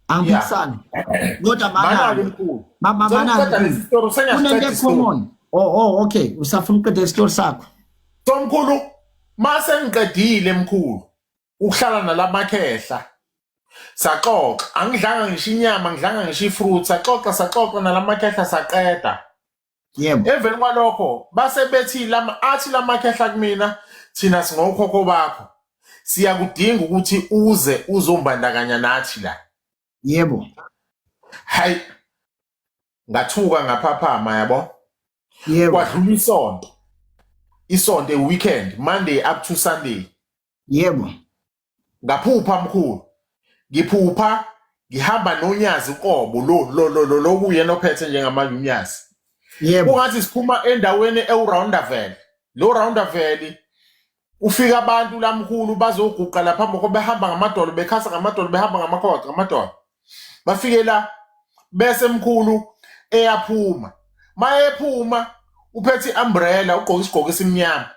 angiphikisani kodwa manake mkhulu mama manake isitori sengiyakuqeda isitori oh oh okay usafuna uqeda isitori sakho so mkhulu mase ngiqedile mkhulu ukuhlala nalamakhehla saxoxa angidlanga ngisho inyama ngidlanga ngisho ifruit saxoxa saxoxa nalamakhehla saqeda yebo emveni kwalokho base bethi lama athi lamakhehla kumina thina singokhokho bakho siyakudinga ukuthi uze uzombandakanya nathi la yebo hayi ngathuka ngaphaphama yabo yebo kwadlula isonto isonto weekend monday up to sunday yebo ngaphupha mkhulu ngiphupha ngihamba nonyazi uqobo lo lo lo lo lokuyena ophethe njengamanje unyazi yebo kungathi siphuma endaweni ewuroundavel lo roundavel ufika abantu lamkhulu bazoguqa lapha moko behamba ngamadolo bekhasa ngamadolo behamba ngamakhoda ngamadolo bafike la bese mkhulu eyaphuma mayephuma uphethe i-umbrella ugqoke isigqoko esimnyama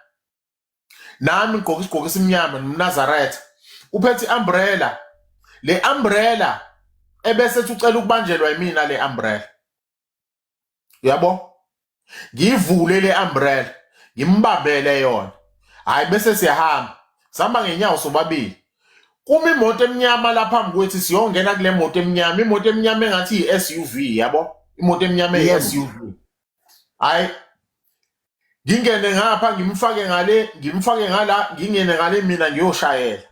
nami ngigqoke isigqoko esimnyama nomnazaretha uphethe i-umbrella le umbrella ebese ethi ucela ukubanjelwa yimina le umbrella uyabo ngivule le umbrella ngimbambele yona hayi bese siyahamba sihamba ngenyawo sobabili kuma imoto emnyama la phambi kwethu siyongena kule moto emnyama imoto emnyama engathi yi-suv yabo imoto emnyama eyi-suv hayi ngingene ngapha ngimfake ngale ngimfake ngala ngingene ngale mina ngiyoshayela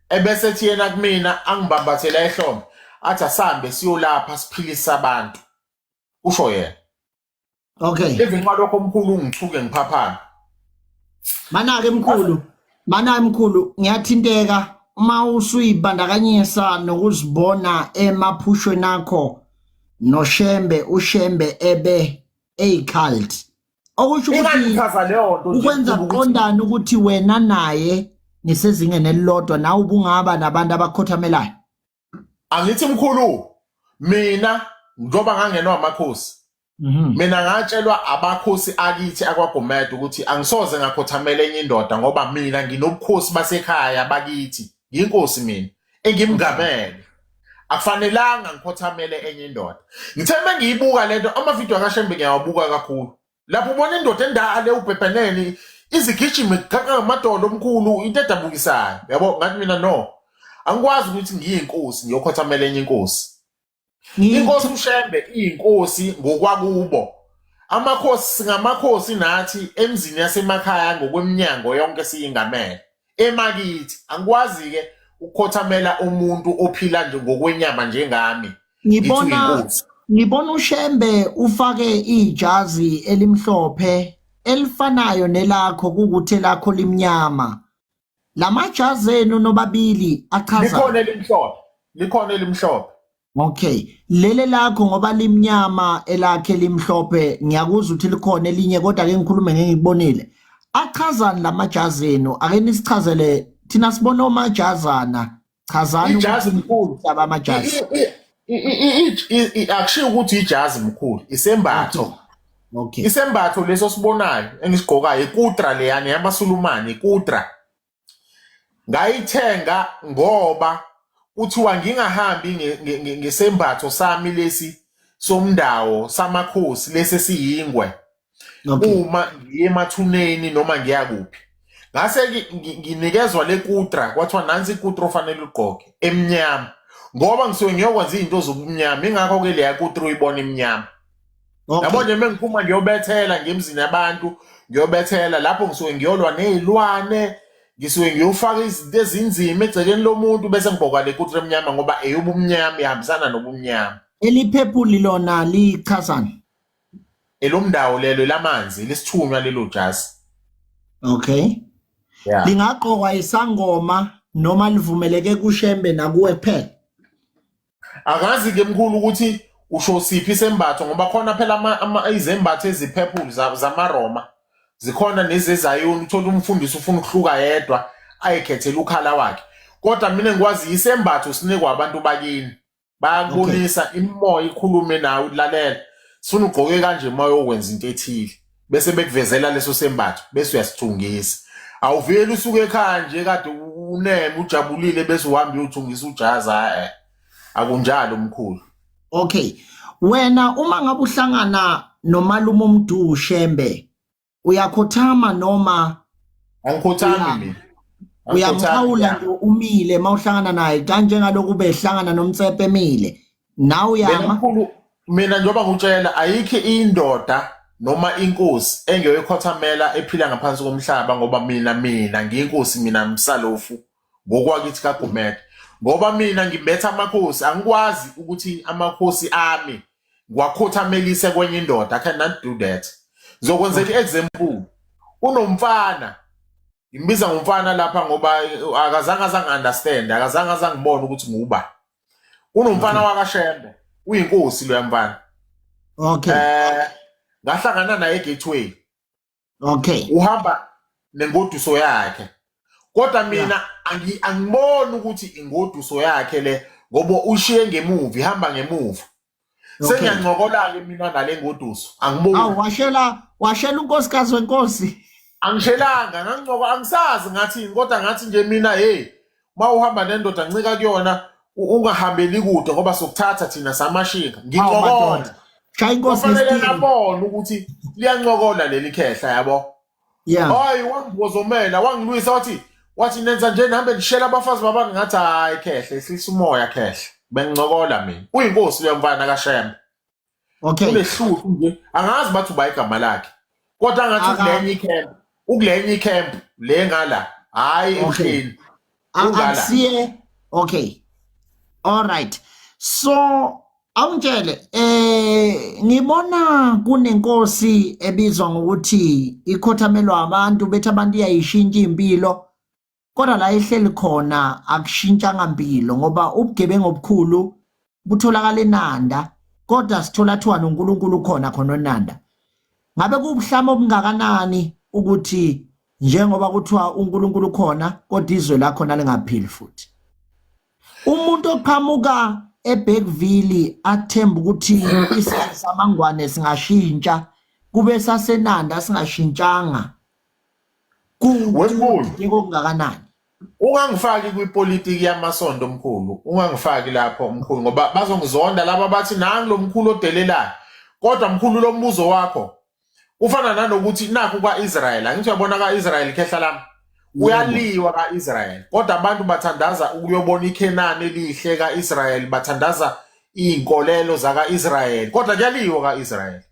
ebese ethi yena kumina angibambathela ehlombe athi asambe siyolapha siphilisa abantu usho yena okay even nxa lokho omkhulu ungithuke ngiphaphana manake mkhulu manake mkhulu ngiyathinteka uma usuyibandakanyisa nokuzibona emaphushweni akho noshembe ushembe ebe eyi cult okusho ukuthi ingangichaza leyo nto nje ukwenza ukuthi kuqondana ukuthi wena naye nisezingeni elilodwa nawe ubungaba nabantu abakhothamelayo angithi mkhulu mina njengoba ngangenwa amakhosi Mhm. mina ngatshelwa abakhosi akithi akwagomede ukuthi angisoze ngakhothamela enye indoda ngoba mina nginobukhosi basekhaya bakithi yinkosi mina engimngamele akufanelanga ngikhothamele enye indoda ngithe uma ngiyibuka le nto amavidiyo akashembe ngiyawabuka kakhulu lapho ubona indoda endale ubhebheneni izigijime kuqhaqa ngamadolo omkhulu into edabukisayo yabo ngathi mina no angikwazi ukuthi ngiyinkosi ngiyokhothamela enye inkosi inkosi ushembe iyinkosi ngokwakubo amakhosi singamakhosi nathi emzini yasemakhaya ngokweminyango yonke siyingamele emakithi angikwazi-ke ukhothamela umuntu ophila nje ngokwenyama njengami ngibona ngibona uShembe ufake ijazi elimhlophe elifanayo nelakho kukuthi elakho limnyama Lamajazi enu nobabili achaza. Likhona elimhlophe. Likhona elimhlophe. Okay. Lele lakho ngoba limnyama elakhe limhlophe ngiyakuzwa ukuthi likhona elinye kodwa ke ngikhulume ngengibonile. Achazani lamajazi enu? Ake nisichazele thina sibona omajazana. chazani ijazi mkhulu hlaba amajazi akushiyo ukuthi ijazi mkhulu isembatho okay isembatho leso sibonayo engisigqokayo ikutra leyani yamasulumane ikutra ngayithenga ngoba kuthiwa ngingahambi ngesembatho sami lesi somndawo samakhosi lesi siyingwe uma ngiye emathuneni noma ngiya kuphi ngase nginikezwa le kutra kwathiwa nansi ikutra ofanele ugqoke emnyama ngoba ngisuke ngiyokwenza izinto zobumnyama ingakho ke leya kutra uyibona emnyama yabo nje uma ngiphuma ngiyobethela ngemzini yabantu ngiyobethela lapho ngisuke ngiyolwa nezilwane ngisuke ngiyofaka izinto ezinzima egcekeni lomuntu bese ngibhokwa le kutra emnyama ngoba eyobumnyama ihambisana nobumnyama eliphephuli lona lichazani elomndawo lelo elamanzi lisithunywa lelo jazi okay yeah. lingaqokwa isangoma noma livumeleke kushembe nakuwe phela akazi ke mkhulu ukuthi usho siphi sembatho ngoba khona phela izembatho eziphephulu zamaroma zikhona nezezayoni uthola umfundisi ufuna ukuhluka yedwa ayikhethela ukhala wakhe kodwa mina ngikwazi isembatho sinikwa abantu bakini bayakubonisa okay. imimoya ikhulume nawe ulalela sifuna ugqoke kanje uma yokwenza into ethile bese bekuvezela leso sembatho bese uyasithungisa awuveli usuke ekhaya nje kade uneme ujabulile bese uhamba uyothungisa ujazi hayi eh, akunjalo mkhulu okay wena uma ngabe uhlangana nomalume umdu shembe uyakhothama noma angikhothami mina uyamxhawula nje umile mawuhlangana naye kanjengalokhu behlangana nomtsepe emile nawe uyama mina njengoba ngutshela ayikho indoda noma inkosi engeyokhothamela ephila ngaphansi komhlaba ngoba mina mina ngiyinkosi mina msalofu ngokwakithi kaGumede ngoba mina ngimbetha amakhosi angikwazi ukuthi amakhosi ami ngiwakhothamelise kwenye indoda i cannot do that ngizokwenzela i-example unomfana ngimbiza ngomfana lapha ngoba akazange azangi-understand akazange azangibona ukuthi nguba unomfana mhm. wakashembe uyinkosi loya mfana okay eh ngahlangana naye egateway okay uhamba nengoduso yakhe kodwa mina angi- angiboni ukuthi ingoduso yakhe le ngoba ushiye ngemuva ihamba ngemuva okay sengiyancokola-ke mina nale ngoduso awu angiboni washela washela unkosikazi wenkosi angishelanga ngangincoka angisazi ngathini kodwa ngathi nje mina hey uma uhamba nendoda ncika kuyona u- ungahambeli kude ngoba sokuthatha thina samashinga Awu, ngincokola madoda. Shaya inkosi kufanele ngesitini. nabone ukuthi liyancokola leli khehla yabo Yeah. hayi wangibozomela wangilwisa wathi wathi nenza nje nihambe nishela abafazi babani ngathi hayi khehla ehlisa umoya khehla bengincokola mina uyinkosi uyamfana kashembe okay unehlupho nje angazi bathi uba igama lakhe kodwa ngathi ukulenye icamp ukulenye icamp le ngala hayi emhleni akusiye okay all right so awungitshele eh ngibona kunenkosi ebizwa ngokuthi ikhothamelwa abantu bethi abantu iyayishintsha impilo kodwa la ehleli khona akushintshanga mpilo ngoba ubugebengu obukhulu butholakala eNanda kodwa sithola kuthiwa noNkulunkulu khona khona oNanda ngabe kubuhlama obungakanani ukuthi njengoba kuthiwa uNkulunkulu khona kodwa izwe lakhona lingaphili futhi umuntu oqhamuka eBergville athemba ukuthi isizwe samangwane singashintsha kube sasenanda singashintshanga kuwukuthi kokungakanani ungangifaki kwipolitiki yamasonto omkhulu ungangifaki lapho mkhulu ngoba bazongizonda laba bathi nangi lo mkhulu odelelayo kodwa mkhulu lo mbuzo wakho ufana nanokuthi nakho kwa-israyeli angithi uyabona ka-israyeli khehla lami uyaliwa ka-israyeli kodwa abantu bathandaza ukuyobona ikhenani elihle ka-israyeli bathandaza iy'nkolelo zaka-israyeli kodwa kuyaliwa ka-israyeli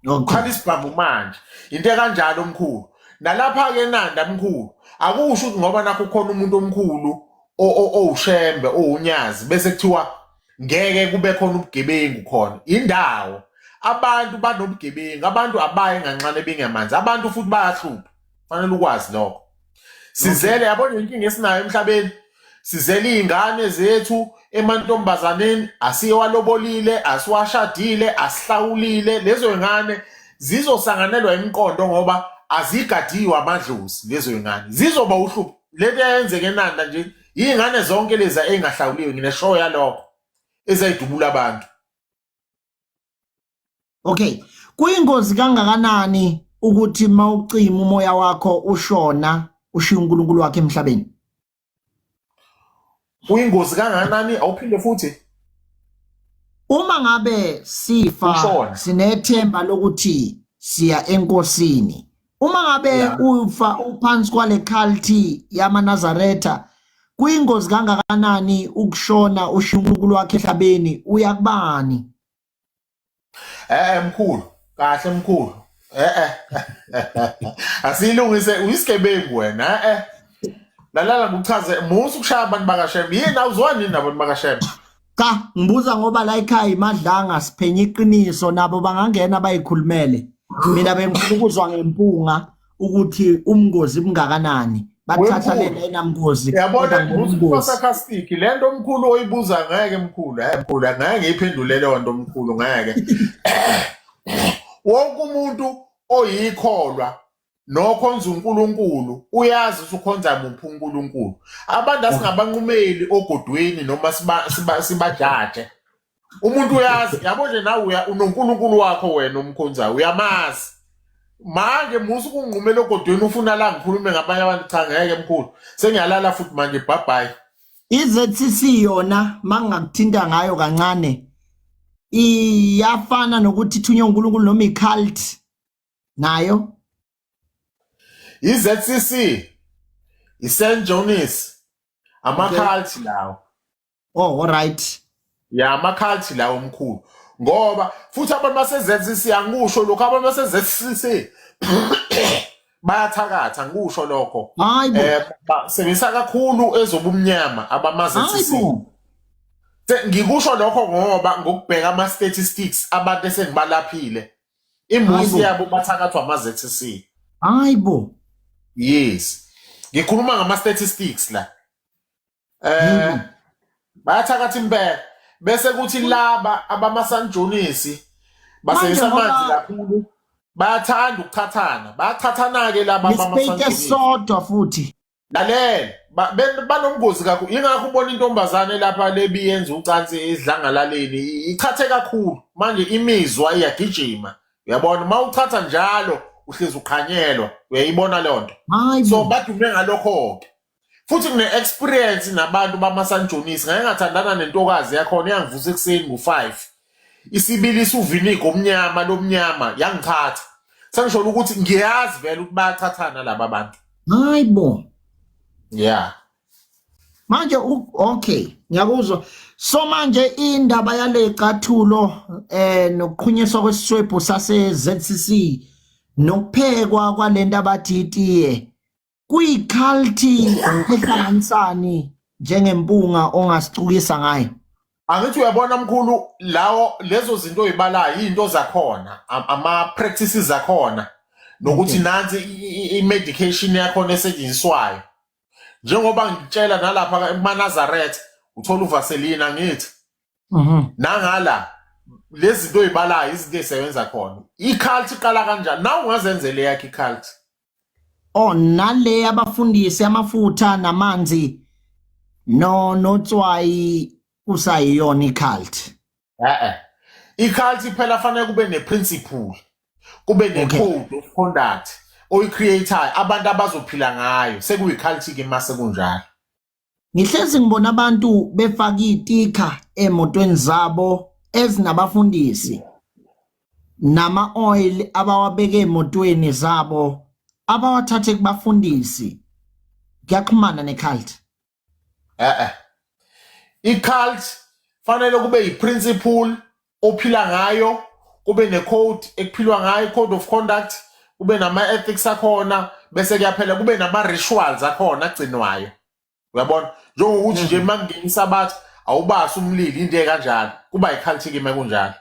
Ngikhala isibhamu manje. Into ekanjalo omkhulu. Nalapha ke nanda mkhulu. Akusho ukuthi ngoba nakho khona umuntu omkhulu owushembe owunyazi bese kuthiwa ngeke kube khona ubugebengu khona. Indawo abantu banobugebengu, abantu abayi nganxane bengamanzi. Abantu futhi bayahlupha. fanele ukwazi lokho sizele yabona inkinga esinayo emhlabeni sizele iy'ngane zethu emantombazaneni asiyewalobolile asiwashadile asihlawulile lezo y'ngane zizosanganelwa imiqondo ngoba azigadiwe amadlozi lezo y'ngane zizoba uhlupho le nto yayenzeka enanda nje iy'ngane zonke lezi ey'ngahlawuliwe ngineshow yalokho ezayidubula abantu okay kuyingozi kangakanani ukuthi mawucima umoya wakho ushona ushiya uNkulunkulu wakhe emhlabeni kuyingozi kangakanani awuphinde futhi uma ngabe sifa sinethemba lokuthi siya enkosini uma ngabe ufa uphansi kwale culty yamanazaretha kuyingozi kangakanani ukushona ushiya uNkulunkulu wakhe ehlabeni uya kubani eh, eh mkhulu kahle mkhulu eh eh asilungise uyisigebengu wena eh, eh. lalala ngikuchaze musa ukushaya abantu bakashembe yini awuzwani nini nabantu bakashembe Cha ngibuza ngoba la ekhaya imadlanga siphenya iqiniso nabo bangangena bayikhulumele. Mina bengifuna ukuzwa ngempunga ukuthi umngozi bungakanani. Bathatha lena enamngozi. Yabona ngibuza sarcastic lento omkhulu oyibuza ngeke mkhulu. Hayi mkhulu ngeke ngiyiphendule leyo nto omkhulu ngeke. Wonke umuntu oyikholwa nokhonza uNkulunkulu uyazi ukuthi ukhonza muphi uNkulunkulu abantu asingabanqumeli ogodweni noma sibajaje umuntu uyazi yabo nje nawe uya unoNkulunkulu wakho wena umkhonzayo uyamazi manje musa ukunqumela ogodweni ufuna la ngikhulume ngabanye abantu cha ngeke mkhulu sengiyalala futhi manje bhabhayi iZCC yona mangakuthinta ngayo kancane iyafana nokuthi ithunywe uNkulunkulu noma iCult nayo iZCC iSt John's amakhalthi lawo oh alright ya amakhalthi lawo omkhulu ngoba futhi abantu baseZCC angikusho lokho abantu baseZCC bayathakatha ngikusho lokho hayi bo eh basebenzisa kakhulu ezobumnyama abamaZCC hayi bo Se- ngikusho lokho ngoba ngokubheka ama-statistics abantu esengibalaphile imuzi yabo bathakathwa ama-zcc hayi bo yes ngikhuluma ngama-statistics la eh bayathakatha impela bese kuthi laba abamasanjonisi basebenzisa amanzi kakhulu bayathanda ukuthathana bayathathana-ke laba abamasanjonisi sodwa futhi lalela ba- ben- banobungozi kakhulu yingakho ubona intombazane lapha lebi yenza ucansi esidlangalaleni i- ichathe kakhulu manje imizwa iyagijima uyabona uma uchatha njalo uhlezi uqhanyelwa uyayibona leyo nto hayi so bo badume ngalokho-ke futhi ngine-experience nabantu bamasanjonisi ngake ngathandana nentokazi yakhona iyangivusa ekuseni ngo-five isibilisa uviniga omnyama lomnyama yangithatha sengisholo ukuthi ngiyazi vele ukuthi bayathathana laba bantu hayi bo yeah manje okay ngiyakuzwa so manje indaba yale cathulo eh nokuqhunyiswa kwesiswebhu sase ZCC nokuphekwa kwalento abathi itiye kuyiculty ehlanganisani njengempunga ongasicukisa ngayo angithi uyabona mkhulu lawo lezo zinto oyibalayo izinto zakhona ama practices zakhona nokuthi nansi i medication yakhona esetshenziswayo njengoba ngitshela nalapha kumaNazareth uthola uvaseline angithi mhm. nangala lezi zinto oyibalayo izinto ezisebenza khona i-cult iqala kanjani nawe ungazenzela eyakho i-cult oh nale abafundisi amafutha namanzi no notswayi kusayiyona i-cult eh i-cult iphela fanele kube ne-principle kube ne-code okay. of conduct oyi-creatayo abantu abazophila ngayo sekuyi-cult-ke uma sekunjalo Ngihlezi ngibona abantu befaka itikha emotweni zabo ezinabafundisi nama oil abawabeke emotweni zabo abawathathe kubafundisi kuyaxhumana necult eh eh icult fanele kube yiprinciple ophila ngayo kube necode ekuphilwa ngayo code of conduct kube nama-ethics akhona bese kuyaphela kube nama-rituals akhona agcinwayo uyabona njengokuthi nje uma kungenisa abathi awubasi umlili into ekanjalo kuba yikhalithikima ekunjalo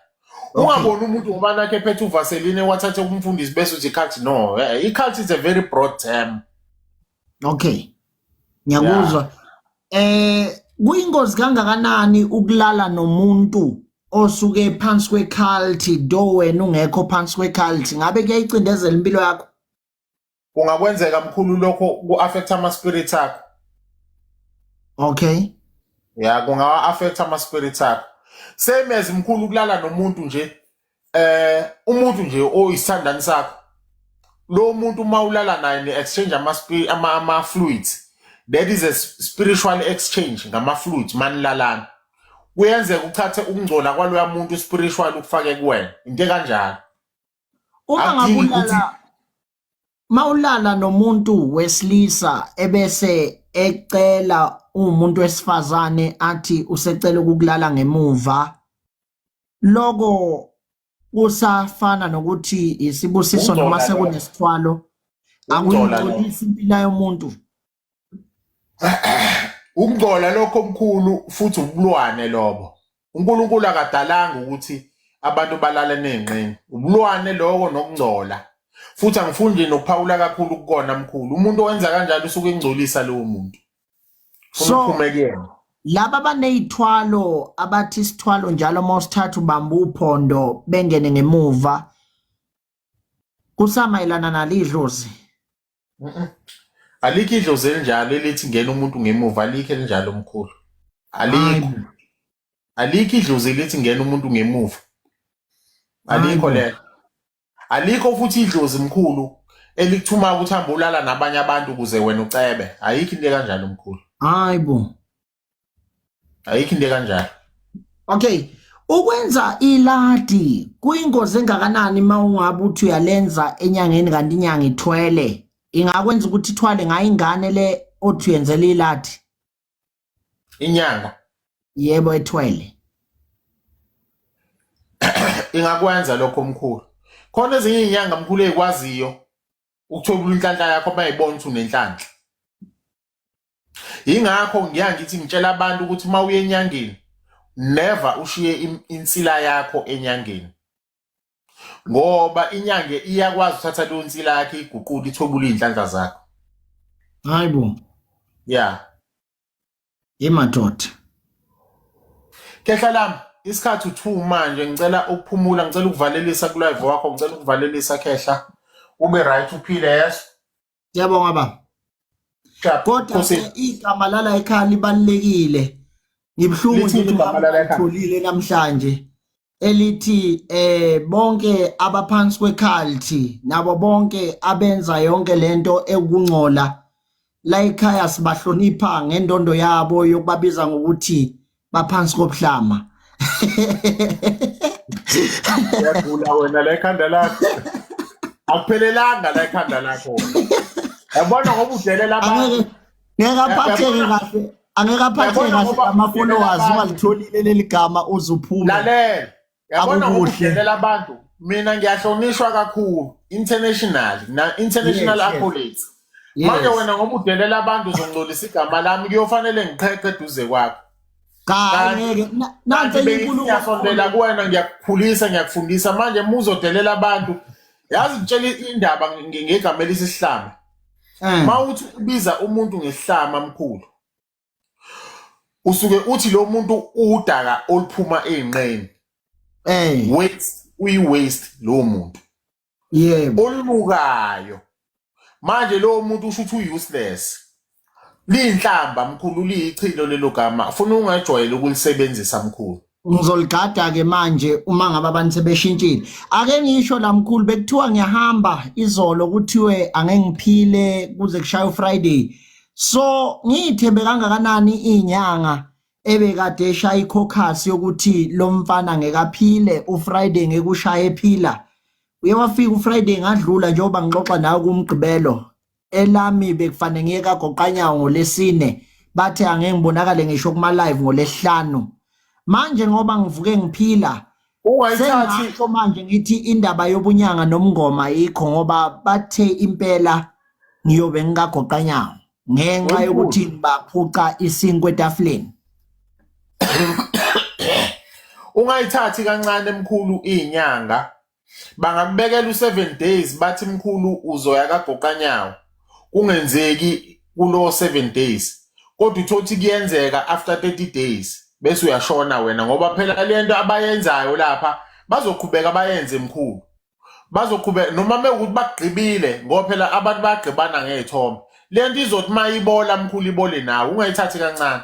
ungaboni umuntu ngoba nakhe ephethe uvaseline wathathe kumfundisi bese uthi ikhalthi no eh, ikhalthi is a very broad term okay ngiyakuzwa eh kuyingozi kangakanani ukulala nomuntu osuke phansi kweculty do wena ungekho phansi kweculty ngabe kuyayicindezela impilo yakho kungakwenzeka mkhulu lokho ku-affect ama-spirit akho okay ya kungawa-affect ama-spirit akho same as mkhulu ukulala nomuntu nje eh umuntu nje oyisithandani sakho lo muntu uma ulala naye ni-exchange ama-spi- ama- ama-fluids that is a s- spiritual exchange ngama-fluids manilalana kuyenzeka uthathe ukungcola kwaloya muntu spiritual ukufake kuwena into ekanjalo uma ngabe akudingi ukuthi ulala mawulala nomuntu wesilisa ebese ecela umuntu wesifazane athi usecela ukukulala ngemuva loko kusafana nokuthi isibusiso noma sekunesithwalo akuyingcolisi impilo yomuntu ukungcola lokho omkhulu futhi ubulwane lobo uNkulunkulu akadalanga ukuthi abantu balale nenqini ubulwane lokho nokungcola futhi angifuni nje nokuphawula kakhulu kukona mkhulu umuntu owenza kanjalo usuke engcolisa lowo muntu so laba banezithwalo abathi isithwalo njalo uma usithatha ubamba uphondo bengene ngemuva kusamayelana nalidlozi alikho idlozi elinjalo elithi ngena umuntu ngemuva alikho elinjalo mkhulu alikho alikho idlozi elithi ngena umuntu ngemuva alikho lelo alikho futhi idlozi mkhulu elikuthuma ukuthi hambe ulala nabanye abantu ukuze wena ucebe ayikho into kanjalo mkhulu hayi bo ayikho into kanjalo okay ukwenza iladi kuyingozi engakanani uma ungabe uthi uyalenza enyangeni kanti inyanga ithwele ingakwenza ukuthi ithwale ngayo ingane le othi uyenzela iladi inyanga yebo ethwele ingakwenza lokho mkhulu khona ezinye inyanga mkhulu ezikwaziyo ukuthwebula inhlanhla yakho bayibona ukuthi unenhlanhla ingakho ngiya ngithi ngitshela abantu ukuthi uma uye enyangeni never ushiye insila yakho enyangeni ngoba inyange iyakwazi uthatha leyo nsila yakhe iguqule ithwebule iy'nhlanhla zakho hayi bo ya imadoda kehla lami isikhathi u-two manje ngicela ukuphumula ngicela ukuvalelisa kulive wakho ngicela ukuvalelisa khehla ube right uphile yeso Ngiyabonga baba. Kodwa igama lala ekhaya libalekile. Ngibhlungu nje ngitholile namhlanje elithi eh bonke abaphansi kwekhalthi nabo bonke abenza yonke lento ekungcola la ekhaya sibahlonipha ngendondo yabo yokubabiza ngokuthi baphansi kobuhlama yagula wena la ekhanda lakho akuphelelanga la ekhanda lakho yabona ngoba udelela abantu ngeke aphatheke kahle angeke aphatheke kahle ama-followers ungalitholile leli gama uze uphume lalela yabona Akukuhle. ukudelela abantu mina ngiyahlonishwa kakhulu international na international Yes, yes. accolades Yes. manje wena ngoba udelela abantu uzongcolisa igama lami kuyofanele ngiqheqe eduze kwakho Cha Kanti- ngeke Na- nansi kanti enye inkulumo bengisondela kuwena ngiyakukhulisa ngiyakufundisa manje uma uzodelela abantu yazi ngitshela indaba nge- ngegama elisihlama Eh. uma uthi ubiza umuntu ngesihlama mkhulu usuke uthi lo muntu udaka oluphuma ey'nqeni eh waste uyi-waste lowo muntu yebo olubukayo manje lowo muntu usho ukuthi u-useless liyinhlamba mkhulu liyichilo lelo gama funa ungajwayeli ukulisebenzisa mkhulu ngizoligada-ke manje uma ngabe abantu sebeshintshile ake ngisho la mkhulu bekuthiwa ngiyahamba izolo kuthiwe angeke ngiphile kuze kushaye ufriday so ngiyithembe kangakanani iy'nyanga ebekade eshaya ikhokhasi yokuthi lo mfana ngekaphile ufriday ngekushaye ephila uye wafika ufriday ngadlula njengoba ngixoxa nawe kumgqibelo elami bekufanele ngiye kagoqanyawo ngolesine bathe angeke ngibonakale ngisho kuma live ngolesihlanu manje ngoba ngivuke ngiphila sengasho manje ngithi indaba yobunyanga nomngoma ayikho ngoba bathe impela ngiyobe ngikagoqanyawo ngenxa yokuthi baphuca isinkwe etafuleni ungayithathi kancane emkhulu inyanga bangakubekela u-seven days bathi mkhulu uzoya kagoqanyawo kungenzeki kulowo seven days kodwa uthole ukuthi kuyenzeka after 30 days bese uyashona wena ngoba phela le nto abayenzayo lapha bazoqhubeka bayenze mkhulu bazoqhubeka noma mewukuthi bagqibile ngoba phela abantu bayagqibana ngey'thombe le nto izothi uma ibola mkhulu ibole nawe ungayithathi kancane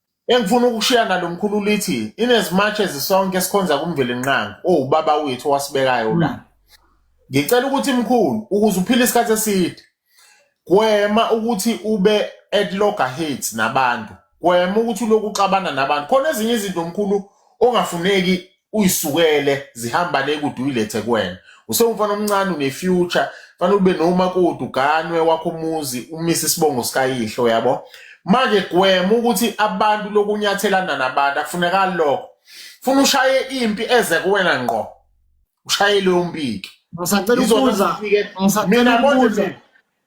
Engifuna ukushiya nalo mkhulu lithi in as much as sonke sikhonza kumvelinqangi owubaba wethu owasibekayo la. Hmm. Ngicela ukuthi mkhulu ukuze uphile isikhathi eside gwema ukuthi ube at loggerheads nabantu. Gwema ukuthi uloku uxabana nabantu. Khona ezinye izinto mkhulu ongafuneki uyisukele zihamba le kude uyilethe kuwena usewumfana omncane unefuture fanele ube nomakoti uganwe wakho umuzi umise isibongo sikayihlo yabo manje gwema ukuthi abantu lokunyathelana nabantu akufunekali lokho funa ushaye impi eze kuwena ngqo ushaye leyo mpiki ngisacela ukubuza mina konje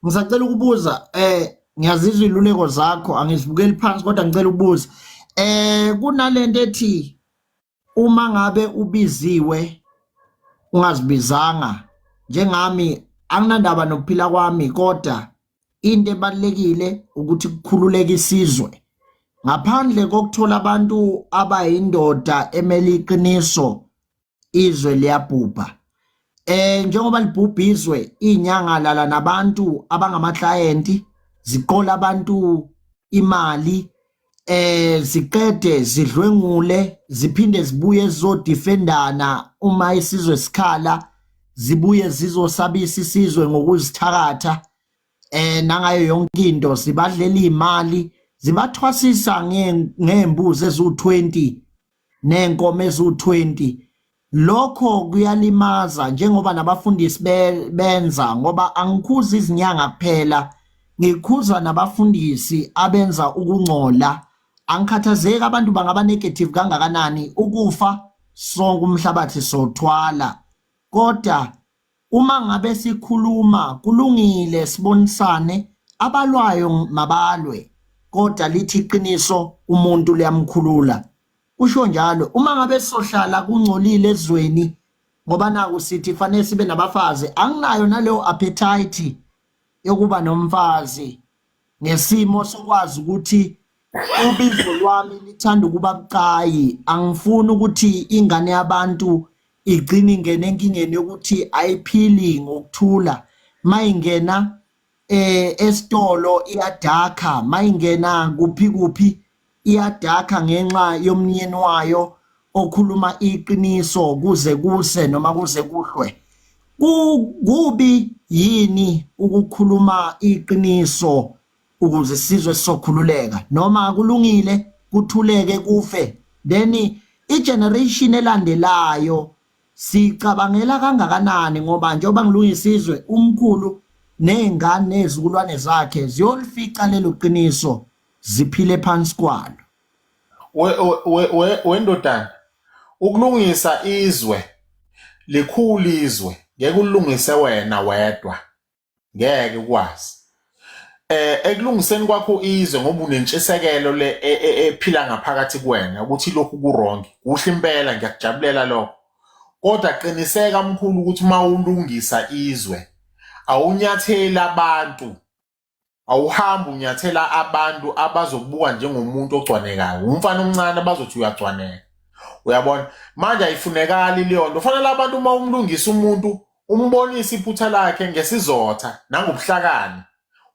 ngisacela ukubuza eh ngiyazizwa iluleko zakho angizibukeli phansi kodwa ngicela ukubuza eh kunalento ethi uma ngabe ubiziwe ungazibizanga njengami anginandaba nokuphila kwami kodwa into ebalekile ukuthi kukhululeke isizwe ngaphandle kokuthola abantu abayindoda emele iqiniso izwe liyabhubha eh njengoba libhubha izwe inyanga lala nabantu abangama client ziqola abantu imali eh ziqede zidlwengule ziphinde zibuye zizodefendana uma isizwe sikhala zibuye zizosabisa isizwe ngokuzithakatha eh nangayo yonke into sibadlela imali zibathwasisa ngembuzi ezu20 nenkomo eziwu-20 lokho kuyalimaza njengoba nabafundisi benza ngoba angikhuzi izinyanga kuphela ngikhuza nabafundisi abenza ukungcola angikhathazeki abantu bangaba negative kangakanani ukufa sonke umhlabathi sothwala kodwa Uma ngabe sikhuluma kulungile sibonisane abalwayo mabalwe kodwa lithi iqiniso umuntu liyamkhulula usho njalo uma ngabe sohlala kungcolile ezweni ngoba naku sithi fanele sibe nabafazi anginayo naleyo appetite yokuba nomfazi ngesimo sokwazi ukuthi ubizo lwami lithanda ukuba bucayi angifuni ukuthi ingane yabantu igcine ingene enkingeni yokuthi ayiphili ngokuthula mayingena eh esitolo iyadakha mayingena kuphi kuphi iyadakha ngenxa yomnyeni wayo okhuluma iqiniso kuze kuse noma kuze kuhlwe kubi yini ukukhuluma iqiniso ukuze sizwe sokhululeka noma kulungile kuthuleke kufe then igeneration elandelayo sicabangela kangakanani ngoba njengoba ngilungisizwe umkhulu nezingane nezikulwane zakhe ziyolifica lelo qiniso ziphile phansi kwalo we- we- we- we- wendodana ukulungisa izwe likhulu izwe ngeke ulungise wena wedwa ngeke ukwazi eh ekulungiseni kwakho izwe ngoba unentshisekelo le e- e- ephila ngaphakathi kuwena ukuthi lokhu kuwrong kuhle impela ngiyakujabulela lokho kodwa qiniseka mkhulu ukuthi uma ulungisa izwe awunyatheli abantu awuhambi unyathela abantu abazokubuka njengomuntu ogcwanekayo umfana omncane abazothi uyagcwaneka uyabona manje ayifunekali leyo nto fanele abantu uma umlungisa umuntu umbonise iphutha lakhe ngesizotha nangobuhlakani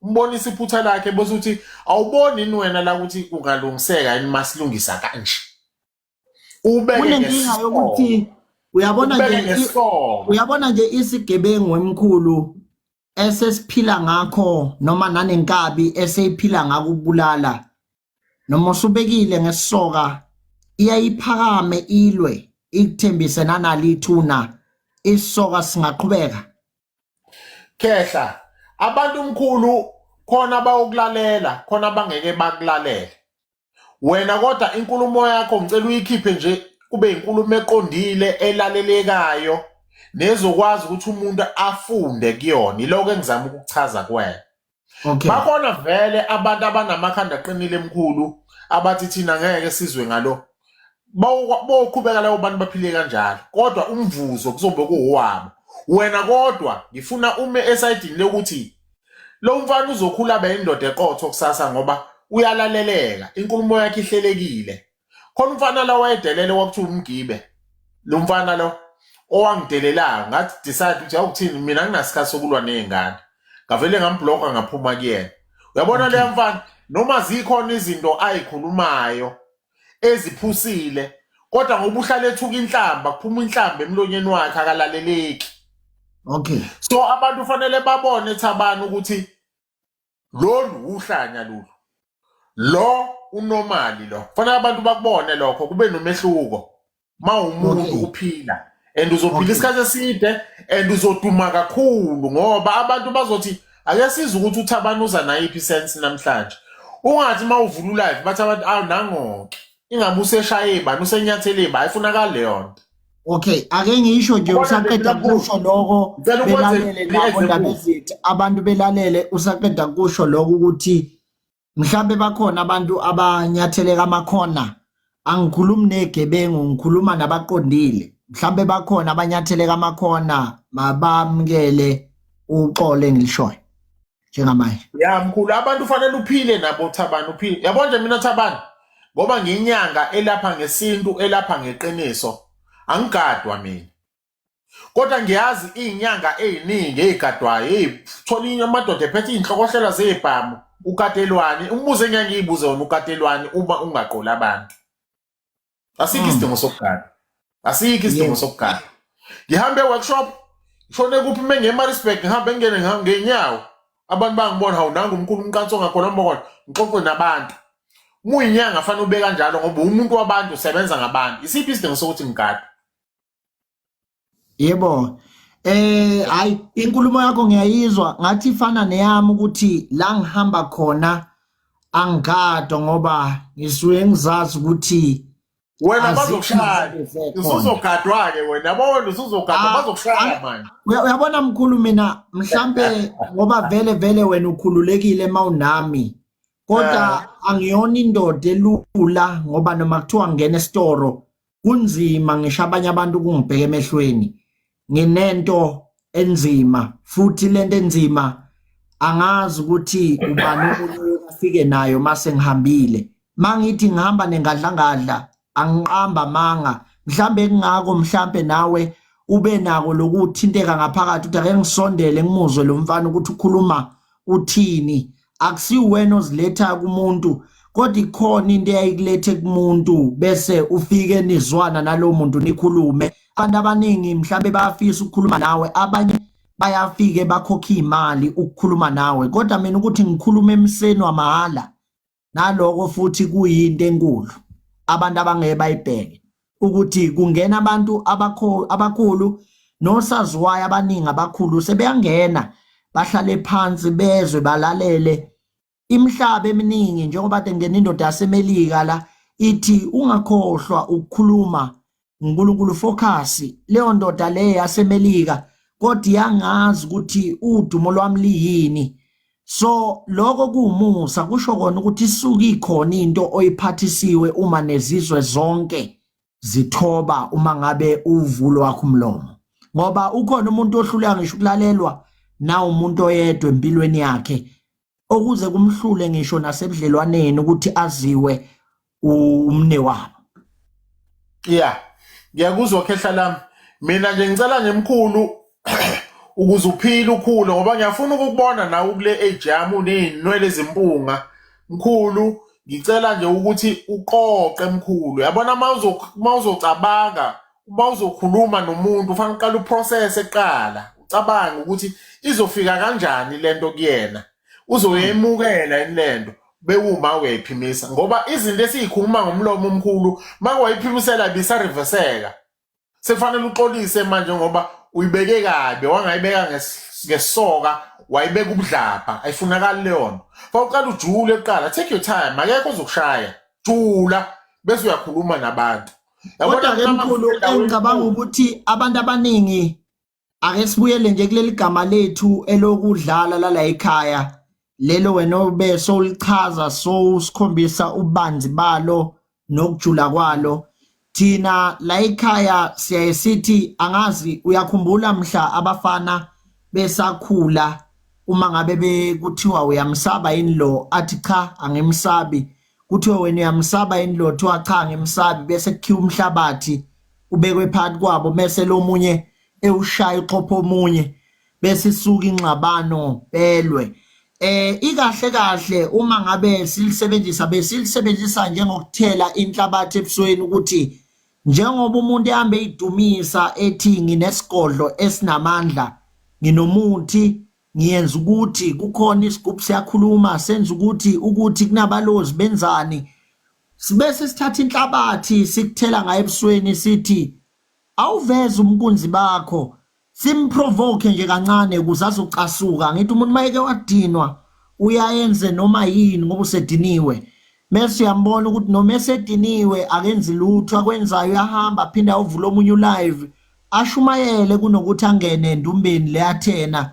umbonise iphutha lakhe bese uthi awuboni yini wena la ukuthi kungalungiseka yini masilungisa kanje kunenkinga yokuthi uyabona nje uyabona nje isigebengu emkhulu esesiphila ngakho noma nanenkabi eseyiphila ngako ukubulala noma usubekile ngesoka iyayiphakame ilwe ikuthembise nanalithuna isoka singaqhubeka khehla abantu mkhulu khona bawukulalela khona bangeke bakulalele wena kodwa inkulumo yakho ngicela uyikhiphe nje kube inkulumo eqondile elalelekayo nezokwazi ukuthi umuntu afunde kuyona iloko engizama ukuchaza kwena okay bakhona vele abantu abanamakhanda aqinile emkhulu abathi thina ngeke sizwe ngalo boqhubeka labo bantu baphile kanjalo kodwa umvuzo kuzobe kuwabo wena kodwa ngifuna ume esayidini lokuthi lo mfana uzokhula abe indoda eqotho kusasa ngoba uyalaleleka inkulumo yakhe ihlelekile khona umfana la wayedelele kwakuthiwa umgibe lo mfana lo owangidelelayo ngathi decide ukuthi awuthini mina nginasikhathi sokulwa nezingane ngavele ngambloka ngaphuma kuyena uyabona leya mfana noma zikhona izinto ayikhulumayo eziphusile kodwa ngoba uhlale ethuka inhlamba kuphuma inhlamba emlonyeni wakhe akalaleleki okay so abantu fanele babone thabani ukuthi lolu uhlanya lolu lo unomali lo fanele abantu bakubone lokho kube nomehluko uma umuntu Okay. uphila and uzophila Okay. isikhathi eside and uzoduma kakhulu ngoba abantu bazothi ake sizwe ukuthi uthabani uza nayiphi sense namhlanje ungathi uma uvula ulive bathi abantu awu nangoke ingabe useshaye bani usenyathele bani ayifunakali leyo nto Okay, ake ngisho nje Ubona usaqeda ngicela ukubuza. kusho lokho Ngicela ukwenze belalele i-example. nabo ndaba ezithi abantu belalele usaqeda kusho lokho ukuthi mhlambe bakhona abantu abanyatheleka amakhona angikhulumi negebengu ngikhuluma nabaqondile mhlambe bakhona abanyatheleka amakhona mabamkele uxole engilishoyo njengamanje ya mkhulu abantu ufanele uphile nabo thabani uphile yabo nje mina thabani ngoba ngiyinyanga elapha ngesintu elapha ngeqiniso angigadwa mina kodwa ngiyazi iy'nyanga ey'ningi ey'gadwayo ey'thola amadoda ephethe iy'nhlokohlela zey'bhamu ukatelwani umbuzo engeke ngiy'buze wona ukatelwani uma ungaqoli abantu asikho hmm. isidingo sokugada asikho isidingo sokugada ngihambe e-workshop ngishone kuphi uma ngemarisburg ngihambe ngingene ngenyawo abantu bangibona hawu nangu umkhulu umqansi ongakhona mbokona ngixoxe nabantu muyinyanga fanele ube kanjalo ngoba umuntu wabantu usebenza ngabantu isiphi isidingo sokuthi ngigade yebo eh hayi inkulumo yakho ngiyayizwa ngathi ifana neyami ukuthi la ngihamba khona angikado ngoba ngisuke ngizazi ukuthi wena bazokushaya usuzogadwa ke wena yabo wena usuzogadwa ah, bazokushaya ah, manje uyabona mkhulu mina mhlambe ngoba vele vele wena ukhululekile mawunami kodwa eh. angiyona indoda elula ngoba noma kuthiwa ngena esitoro kunzima ngisho abanye abantu kungibheka emehlweni nginento enzima futhi lento enzima angazi ukuthi ubani umuntu afike nayo mase ngihambile mangithi ngihamba nengadlangadla angiqamba manga mhlambe kungako mhlambe nawe ube nako lokuthinteka ngaphakathi uthi ake ngisondele ngimuzwe lo mfana ukuthi ukhuluma uthini akusiwena oziletha kumuntu kodwa ikhona into eyayikulethe kumuntu bese ufike nizwana nalowo muntu nikhulume abantu abaningi mhlawumbe bayafisa ukukhuluma nawe abanye bayafike bakhokhe imali ukukhuluma nawe kodwa mina ukuthi ngikhuluma emseni wamahhala naloko futhi kuyinto enkulu abantu abangeke bayibheke ukuthi kungena abantu abakhulu nosaziwayo abaningi abakhulu sebeyangena bahlale phansi bezwe balalele imihlaba eminingi njengoba kade kungena indoda yaseMelika la ithi ungakhohlwa ukukhuluma uNkulunkulu focus leyo ndoda le yaseMelika kodwa yangazi ukuthi udumo lwami liyini so lokho kuwumusa kusho kona ukuthi isuke ikhona into oyiphathisiwe uma nezizwe zonke zithoba uma ngabe uvulo wakho umlomo ngoba ukhona umuntu ohluleka ngisho ukulalelwa na umuntu oyedwa empilweni yakhe okuze kumhlule ngisho nasebudlelwaneni ukuthi aziwe umne wabo yeah ngiyakuzwa khehla lami mina nje ngicela nje mkhulu ukuze uphile ukhule ngoba ngiyafuna ukukubona nawe ukule age yami unezinwele ezimpunga mkhulu ngicela nje ukuthi uqoqe mkhulu yabona uma uzocabanga uma uzokhuluma nomuntu ufanele uqale uprocess eqala ucabange ukuthi izofika kanjani lento kuyena uzoyemukela yini lento bewuma uyayiphimisa ngoba izinto esiyikhuluma ngomlomo omkhulu makwayiphimisela bisariveseka sekufanele uxolise manje ngoba uyibeke kabi wangayibeka nges- ngesoka wayibeka ubudlabha ayifunakali leyo nto fa uqala ujule kuqala take your time akekho ozokushaya jula bese uyakhuluma nabantu kodwa ke mkhulu engicabanga ukuthi abantu abaningi ake sibuyele nje kuleli gama lethu elokudlala lala ekhaya lelo wena obe sowulichaza so usikhombisa ubanzi balo nokujula kwalo thina la ekhaya siyaye sithi angazi uyakhumbula mhla abafana besakhula uma ngabe bekuthiwa uyamsaba yini lo athi cha angimsabi kuthiwe wena uyamsaba yini lo thiwa cha ngimsabi bese kukhiwa umhlabathi ubekwe phakathi kwabo mese lomunye ewushaya uxhopha omunye bese isuka ingxabano belwe eh ikahle kahle uma ngabe silisebenzisa besilisebenzisa njengokuthela inhlabathi ebusweni ukuthi njengoba umuntu ehambe idumisa ethi nginesigodlo esinamandla nginomuthi ngiyenza ukuthi kukhona isigubhu siyakhuluma senza ukuthi ukuthi kunabalozi benzani sibese sithatha inhlabathi sikuthela ngayo ebusweni sithi awuveze umkunzi bakho simprovoke nje kancane ukuze azocasuka ngithi umuntu mayeke wadinwa uyayenze noma yini ngoba usediniwe mese uyambona ukuthi noma esediniwe akenzi lutho akwenzayo uyahamba aphinde awuvula omunye ulive ashumayele kunokuthi angene endumbeni le Athena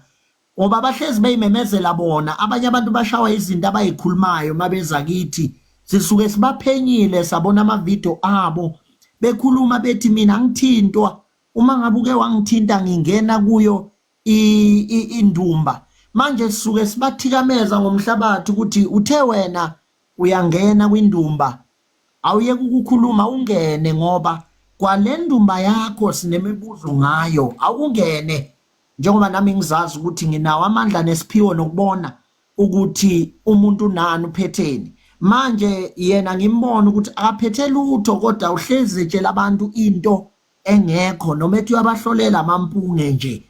ngoba abahlezi beyimemezela bona abanye abantu bashawa izinto abayikhulumayo mabeza kithi sisuke sibaphenyile sabona amavidiyo abo bekhuluma bethi mina ngithintwa uma ngabe uke wangithinta ngingena kuyo indumba manje sisuke sibathikameza ngomhlabathi ukuthi uthe wena uyangena kwindumba awuyeke ukukhuluma ungene ngoba kwalendumba yakho sinemibuzo ngayo awungene njengoba nami ngizazi ukuthi nginawo amandla nesiphiwo nokubona ukuthi umuntu nani uphetheni manje yena ngimbona ukuthi akaphethe lutho kodwa uhlezi etshela abantu into engekho noma ethi uyabahlolela amampunge nje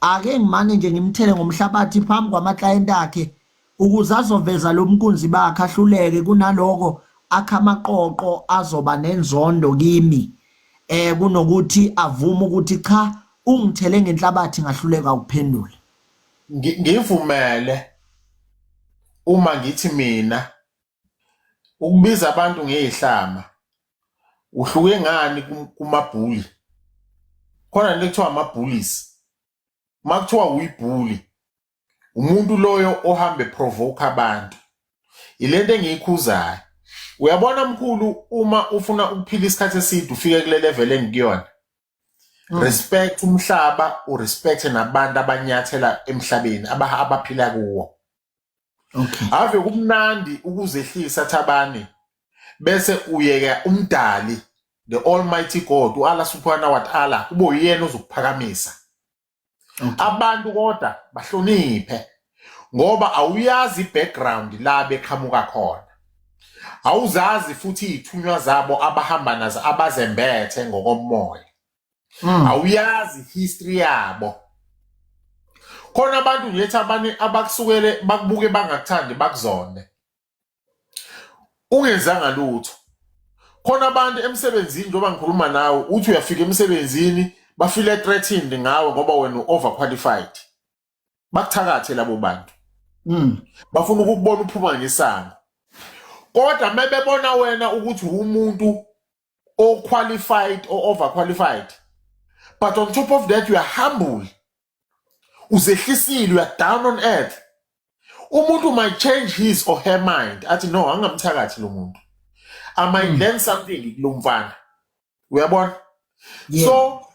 ake ngimane nje ngimthele ngomhlabathi phambi kwamaklayenti akhe ukuze azoveza lo mkunzi bakhe ahluleke kunaloko akha amaqoqo azoba nenzondo kimi eh kunokuthi avume ukuthi cha ungithele ngenhlabathi ngahluleka ukuphendula ngivumele uma ngithi mina ukubiza abantu ngeyihlama uhluke ngani kum- kumabhuli khona into ekuthiwa ama-bullies uma kuthiwa uyibhuli umuntu loyo ohambe provoke abantu ile nto engiyikhuzayo uyabona mkhulu uma ufuna ukuphila isikhathi eside ufike kule level engikuyona Mm. respect umhlaba urespecte nabantu abanyathela emhlabeni aba- abaphila kuwo okay ave kumnandi ukuzehlisa thabani bese uyeka umdali the almighty god uAllah subhanahu wa ta'ala kube uyena ozokuphakamisa okay abantu kodwa bahloniphe ngoba awuyazi background la beqhamuka khona awuzazi futhi ithunywa zabo abahamba nazo abazembethe ngokomoya mm. awuyazi history yabo khona abantu ngilethi abanye abakusukele bakubuke bangakuthandi bakuzonde ungenzanga lutho khona abantu emsebenzini njengoba ngikhuluma nawe uthi uyafika emsebenzini bafile threatened ngawe ngoba wena u-overqualified bakuthakathe labo bantu mm. bafuna ukukubona uphuma ngesango kodwa uma bebona wena ukuthi umuntu or qualified or overqualified but on top of that you are humble uzehlisile you are down on earth umuntu might change his or her mind athi no angamthakathi lo muntu i might mm. learn something kulo mfana uyabona yeah. so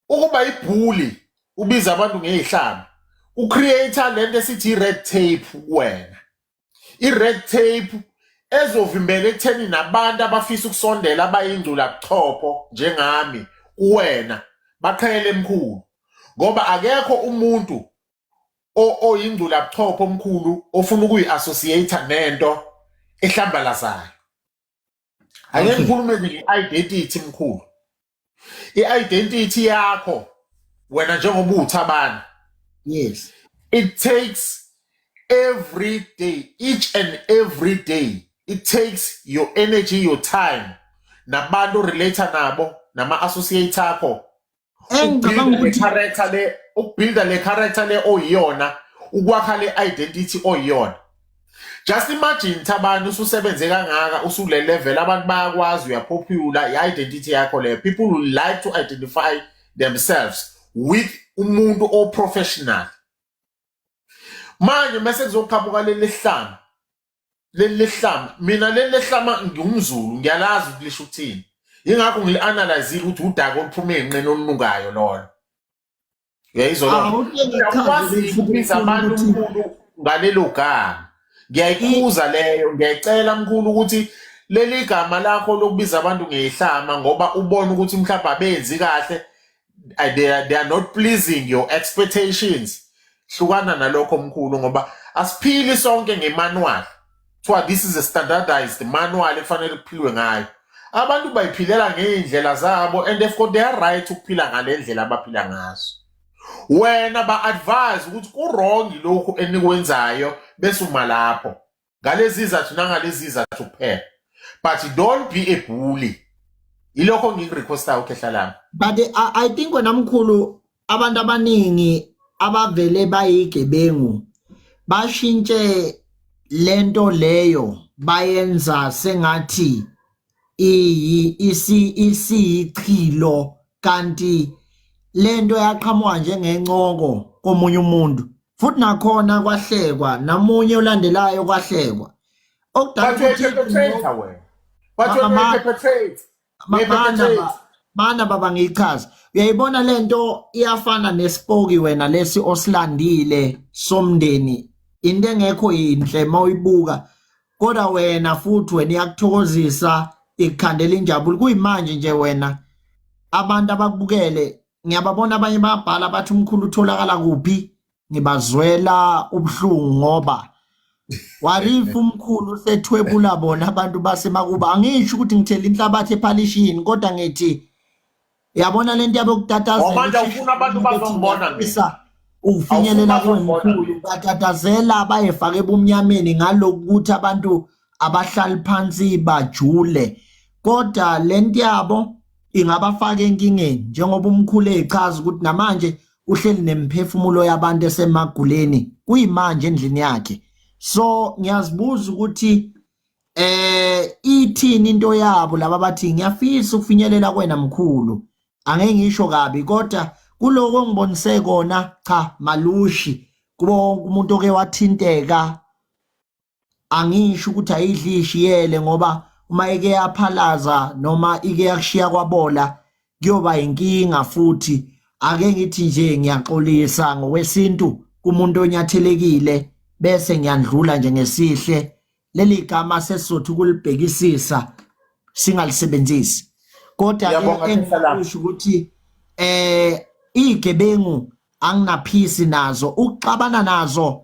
ukuba ibhuli ubiza abantu ngey'hlamba ucreate-a le nto esithi i-red tape kuwena i-red tape ezovimbela ekutheni nabantu abafisa ukusondela abayingcula kuchopho njengami kuwena baqhele emkhulu ngoba akekho umuntu oyingcula buchopho omkhulu ofuna ukuyi-associate nento ehlambalazayo angeke ngikhulume nje nge-identity mkhulu i-identity yakho wena njengoba uwuthabani yes it takes every day each and every day it takes your energy your time nabantu relate nabo nama-associate akho engicabanga ukuthi character le ukubuilda le character le oyiyona ukwakha le identity oyiyona just imagine thabani ususebenze kangaka usule level abantu bayakwazi uyapopular i-identity yakho leyo people will like to identify themselves with umuntu oprofessional manje mese kuzoqhamuka leli hlanga leli lehlama mina leli lehlama ngingumzulu ngiyalazi ukuthi lisho ukuthini yingakho ngili-analyzile ukuthi udaka oluphuma ey'nqeni olunukayo lolo uyayizolokwazi ukubiza abantu mkhulu ngalelo gama ngiyayikhuza leyo ngiyayicela mkhulu ukuthi leli gama lakho lokubiza abantu ngeyihlama ngoba ubona ukuthi mhlawumbe abenzi kahle I- they are, they are not pleasing your expectations hlukana nalokho mkhulu ngoba asiphili sonke ngemanual kuthiwa this is a standardized manual ekufanele kuphilwe ngayo abantu bayiphilela ngey'ndlela zabo and they've got their right ukuphila ngale ndlela abaphila ngazo wena ba-advise ukuthi kurongi lokhu enikwenzayo bese uma lapho ngalezi izathu nangalezi izathu kuphela but don't be a bully ilokho ngikurequestayo ukhehla lami but I, i think wena mkhulu abantu abaningi abavele bayigebengu bashintshe lento leyo bayenza sengathi iyi isi isiyichilo kanti lento yaqhamuka njengencoko komunye umuntu futhi nakhona kwahlekwa namunye olandelayo kwahlekwa mana baba ngiyichaza uyayibona lento iyafana nesipoki wena lesi osilandile somndeni into engekho yinhle mawuyibuka kodwa wena futhi wena iyakuthokozisa ikukhandela injabulo kuyimanje nje wena abantu abakubukele ngiyababona abanye babhala bathi umkhulu utholakala kuphi ngibazwela ubuhlungu ngoba warifu umkhulu sethwebula bona abantu basemakuba angisho ukuthi ngithela inhlabathi ephalishini kodwa ngithi Yabona lento yabo kutatazela. Wamanje ufuna abantu bazongibona ngisa. Ufinyelela kwengikhulu batatazela bayefaka ebumnyameni ngaloku ukuthi abantu abahlali phansi bajule. Kodwa lento yabo ingabafaka enkingeni njengoba umkhulu echaza ukuthi namanje uhleli nemphefumulo yabantu esemaguleni kuyimanje endlini yakhe. So ngiyazibuza ukuthi eh ithini into yabo laba bathi ngiyafisa ukufinyelela kwena mkhulu angeke ngisho kabi kodwa kuloko ngibonise kona cha malushi kubo wonke umuntu oke wathinteka angisho ukuthi ayidli ishiyele ngoba uma ike yaphalaza noma ike yakushiya kwabola kuyoba inkinga futhi ake ngithi nje ngiyaxolisa ngokwesintu kumuntu onyathelekile bese ngiyandlula nje ngesihle leli gama sesizothu ukulibhekisisa singalisebenzisi kodwa engisho ukuthi eh igebengu anginaphisi nazo ukuxabana nazo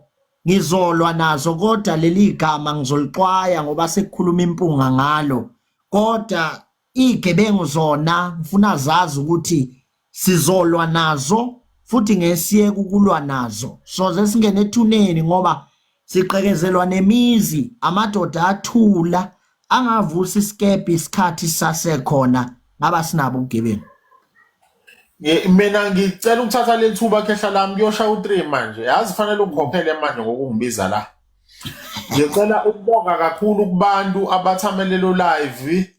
ngizolwa nazo kodwa leli gama ngizolixwaya ngoba sekukhuluma impunga ngalo kodwa Igebengu zona ngifuna zazi ukuthi sizolwa nazo futhi ngesiyeke ukulwa nazo soze singene ethuneni ngoba siqekezelwa nemizi amadoda athula angavusa isikebhe isikhathi sasekhona ngaba sinabo ubugebengu Ngi- mina ngicela ukuthatha leli thuba khehla lami kuyoshaya u-three manje yazi fanele ungikhokhele manje ngokungibiza la Ngicela ukubonga kakhulu kubantu abathamelelo live.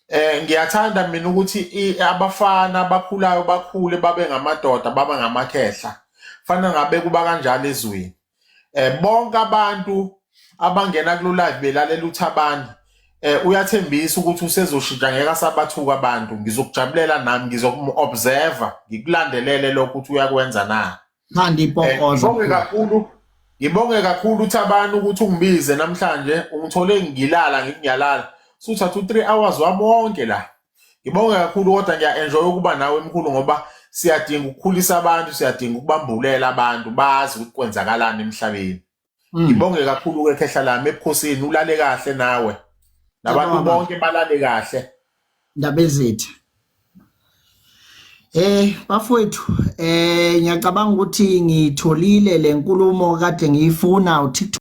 Eh ngiyathanda mina ukuthi i- abafana abakhulayo bakhule babe ngamadoda babe ngamakhehla. Fana ngabe kuba kanjalo ezweni. Eh bonke abantu abangena kulo live belalela uThabani eh uyathembisa ukuthi usezoshintsha ngeke asabathuka abantu. Ngizokujabulela nami ngizokumu-observer ngikulandelele lokho ukuthi uyakwenza na. Manje Eh, ipokoza. Ngibonge kakhulu ngibonge kakhulu uThabani ukuthi ungibize namhlanje ungithole ngilala ngithi ngiyalala suthatha u-3 hours wami wonke la ngibonge kakhulu kodwa ngiya-enjoy ukuba nawe mkhulu ngoba siyadinga ukukhulisa abantu siyadinga ukubambulela abantu bazi ukuthi kwenzakalani emhlabeni Mm. Ngibonge kakhulu ke khehla lami ebukhosini ulale kahle nawe. Nabantu bonke balale kahle. Ndaba ezethu. Eh bafowethu eh ngiyacabanga ukuthi ngitholile lenkulumo kade ngiyifuna uThixo